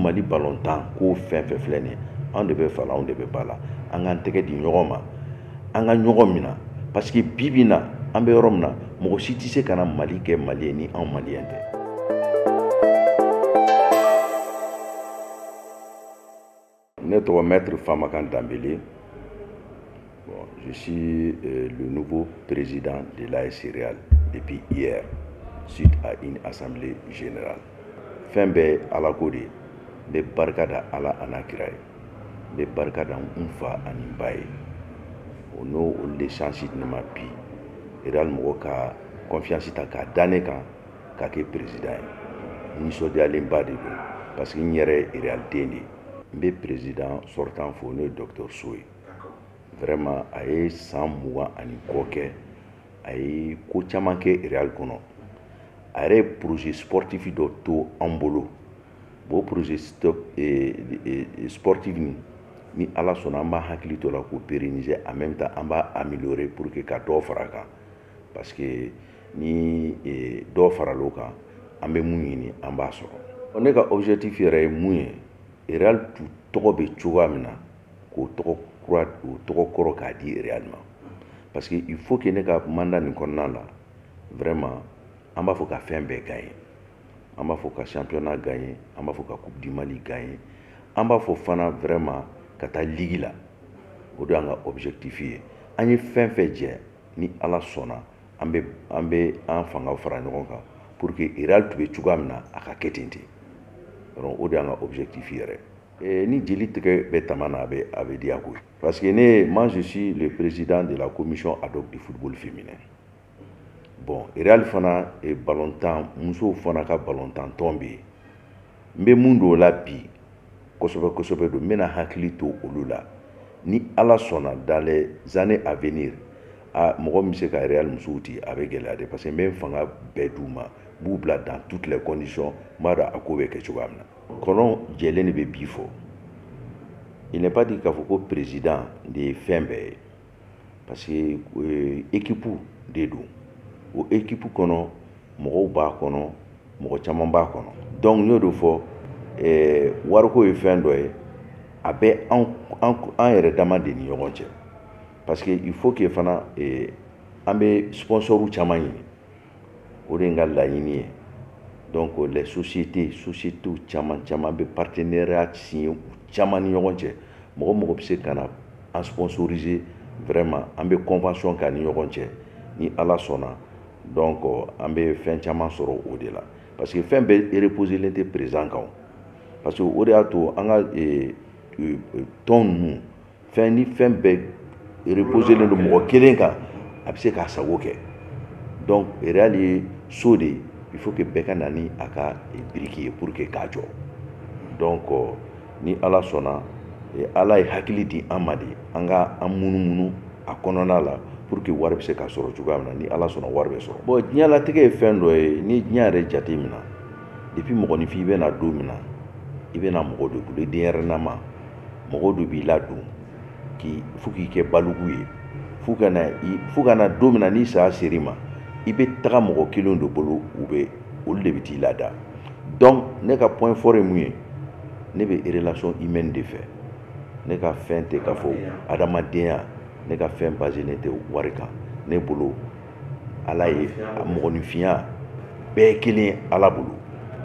mali balontan ko fɛn fɛn filɛ nin anw de bɛ fa la anw de bɛ ba la an k'an tɛgɛ di ɲɔgɔn ma an ka ɲɔgɔn minɛ parce que bi bi na an bɛ yɔrɔ min na mɔgɔ si tɛ se ka na mali kɛ mali ye ni anw maliyɛn tɛ ne tɔgɔ mɛtiri famakan danbele Bon, je suis euh, le nouveau président de l'AS Real depuis hier, suite à une assemblée générale. Fɛn bɛɛ ala ko de ye n bɛ barika da ala an'a kira ye n bɛ barika da n fa ani n ba ye o n'o olu de chance di ne ma bi real mɔgɔ ka confiance ta k'a da ne kan ka kɛ président ye n nisɔndiyalenba de don parce que n yɛrɛ ye real den de ye n bɛ président sortant fo n'o ye docteur so ye vraiment a ye san mugan ani kɔ kɛ a ye ko caman kɛ real kɔnɔ a yɛrɛ ye projet sportif dɔ to an bolo bon projet eh, eh, sportif nin ni ala sɔnna an b'a hakili to la k'o pérenniser en même temps an b'a améliorer pour que ka dɔ fara a kan parce que ni eh, dɔ faral'o kan an bɛ mun ɲini an b'a sɔrɔ ne ka objectif yɛrɛ ye mun ye real tɔgɔ bɛ cogoya min na k'o tɔgɔ kura o tɔgɔ kɔrɔ k'a di Real ma parce que il faut que ne ka mandat nin kɔnɔna la vraiment an b'a fɔ ka fɛn bɛɛ gagner an b'a fɔ ka championnat gagner an b'a fɔ ka coupe du Mali gagner an b'a fɔ fana vraiment ka taa ligue la o de y'an ka objectif ye an ye fɛn fɛn jɛ ni Ala sɔnna an bɛ an bɛ an fanga fara ɲɔgɔn kan pour que Real tun bɛ cogoya min na a ka kɛ ten ten o de y'an ka objectif yɛrɛ ye. Eh, ni jeli tigɛ bɛ taman na a bɛ a bɛ diya koyi parce que ne moi je suis le président de la commission ad hoc du football féminin bon real fana eh, balontan musow fana ka balontan tɔn bɛ yen n bɛ mun dɔn o la bi kosɛbɛ kosɛbɛ don n bɛna hakili to olu la ni ala sɔnna dans les années à venir a mɔgɔ min bɛ se ka real musow ti a bɛ gɛlɛya dɛ parce que n bɛ n fanga bɛɛ d'u ma n b'u bila dans toutes les conditions n b'a dɔn a ko bɛ kɛ cogoya min na kɔnɔ jɛlen de bɛ bii fɔ il n'est pas dit k'a fɔ ko président de ye fɛn bɛɛ ye parce que euh, équipe de don o équipe kɔnɔ mɔgɔw b'a kɔnɔ mɔgɔ caman b'a kɔnɔ donc n y'o de fɔ eh, wariko ye fɛn dɔ ye a bɛ an an an yɛrɛ dama de ni ɲɔgɔn cɛ parce que il faut que fana eh, an bɛ sponsɔrw caman ɲini o de ye n ka laɲini ye donc les sociétés sociétés caman caman n bɛ partenariat signé u caman ni ɲɔgɔn cɛ mɔgɔ o mɔgɔ bɛ se ka na an sponsoriser vraiment an bɛ convention k'an ni ɲɔgɔn cɛ ni ala sɔnna donc an bɛ fɛn caman sɔrɔ o de la parce que fɛn bɛɛ reposelen tɛ président kan parce que o de y'a to an ka tɔn ninnu fɛn ni fɛn bɛɛ reposelen don mɔgɔ kelen kan a bɛ se k'a sago kɛ donc real ye so de ye il faut que bɛɛ ka na ni a ka biriki ye pour que k'a jɔ donc ni ala sɔnna ala ye hakili di an ma de an ka an munumunu a kɔnɔna la pour que wari bɛ se ka sɔrɔ cogoya min na ni ala sɔnna wari bɛ sɔrɔ bon diɲɛlatigɛ ye fɛn dɔ ye ni diɲɛ yɛrɛ jate minɛ depuis mɔgɔninfin i bɛ na don min na i bɛ na mɔgɔ de bolo i denyɛrɛnama mɔgɔw de b'i ladon fo k'i kɛ balugu ye fo ka na don min na ni saya ser'i ma i bɛ taga mɔgɔ kelenw de bolo u bɛ olu de bɛ t'i lada donc ne ka point fort ye mun ye ne bɛ relation humaine de fɛ ne ka fɛn tɛ k'a fɔ adamadenya ne ka fɛn baselen tɛ wari kan ne bolo ala ye a mɔgɔninfinya bɛɛ kelen ala bolo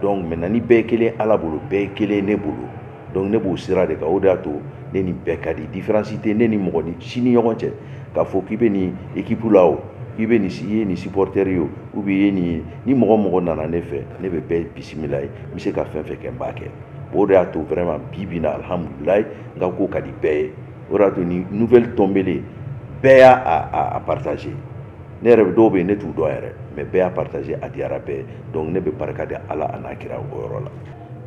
donc maintenant ni bɛɛ kelen ala bolo bɛɛ kelen ne bolo donc ne b'o sira de kan o de y'a to ne ni bɛɛ ka di différence tɛ ne ni mɔgɔnin si ni ɲɔgɔn cɛ k'a fɔ k'i bɛ nin équipe la o k'i bɛ nin i ye nin supporter ye o ou bien i ye nin ye ni mɔgɔ o mɔgɔ nana ne fɛ ne bɛ bɛɛ bisimilayi n bɛ se ka fɛn fɛn kɛ n b'a kɛ o de y'a to vraiment bi bi in na alihamudulilayi n ka ko ka di bɛɛ ye o de y'a to ni nouvelle tombelen bɛɛ y'a partager ne yɛrɛ bɛ dɔw bɛ yen ne t'u dɔn yɛrɛ mais bɛɛ y'a partager a diyara bɛɛ ye donc ne bɛ barika da ala a n'a kira o yɔrɔ la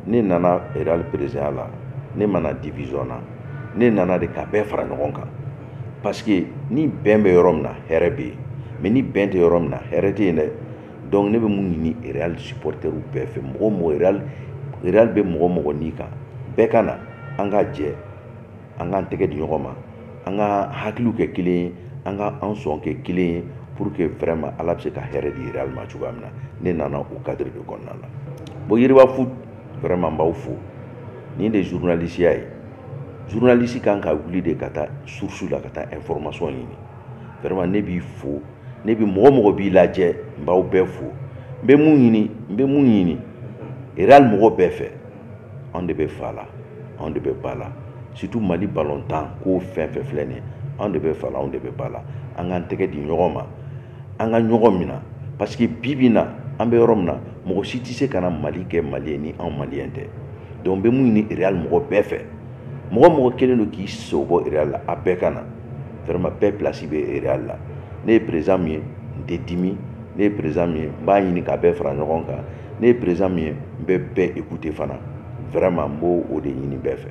ne nana real présidentya la ne ma na division na ne nana de ka bɛɛ fara ɲɔgɔn kan parce que ni bɛn bɛ yɔrɔ min na hɛrɛ bɛ yen mais ni bɛn tɛ yɔrɔ min na hɛrɛ tɛ yen dɛ donc ne bɛ mun ɲini real supporteriw bɛɛ fɛ mɔgɔ o mɔgɔ real real bɛ mɔgɔ o mɔgɔ ni kan bɛɛ ka na an ka jɛ an k'an tɛgɛ di ɲɔgɔn ma an ka hakiliw kɛ kelen ye an ka an sɔn kɛ kelen ye pour que vraiment ala bɛ se ka hɛrɛ di real ma cogoya min na ne nana o cadre de kɔnɔna la bon yiriba foot vraiment n b'aw fo nin de journalisiya ye journalisi kan ka wuli de ka taa source la ka taa information ɲini vraiment ne b'i fo ne bi mɔgɔ o mɔgɔ b'i lajɛ n b'aw bɛɛ fo n bɛ mun ɲini n bɛ mun ɲini real mɔgɔ bɛɛ fɛ anw de bɛ fa la anw de bɛ ba la surtout mali balontan ko fɛn fɛn filɛ nin ye anw de bɛ fa la anw de bɛ ba la an k'an tɛgɛ di ɲɔgɔn ma an ka ɲɔgɔn mina parce que bi bi na an bɛ yɔrɔ min na mɔgɔ si tɛ se ka na mali kɛ mali ye ni anw maliyɛn tɛ donc n bɛ mun ɲini real mɔgɔ bɛɛ fɛ mɔgɔ mɔgɔ kɛlen don k'i sen bɔ real la a bɛɛ ka na vraiment bɛɛ place bɛ real la ne ye président min ye n tɛ dimi ne ye président min ye n b'a ɲini k'a bɛɛ fara ɲɔgɔn kan ne ye président min ye n bɛ bɛɛ écouter fana vraiment n b'o de ɲini bɛɛ fɛ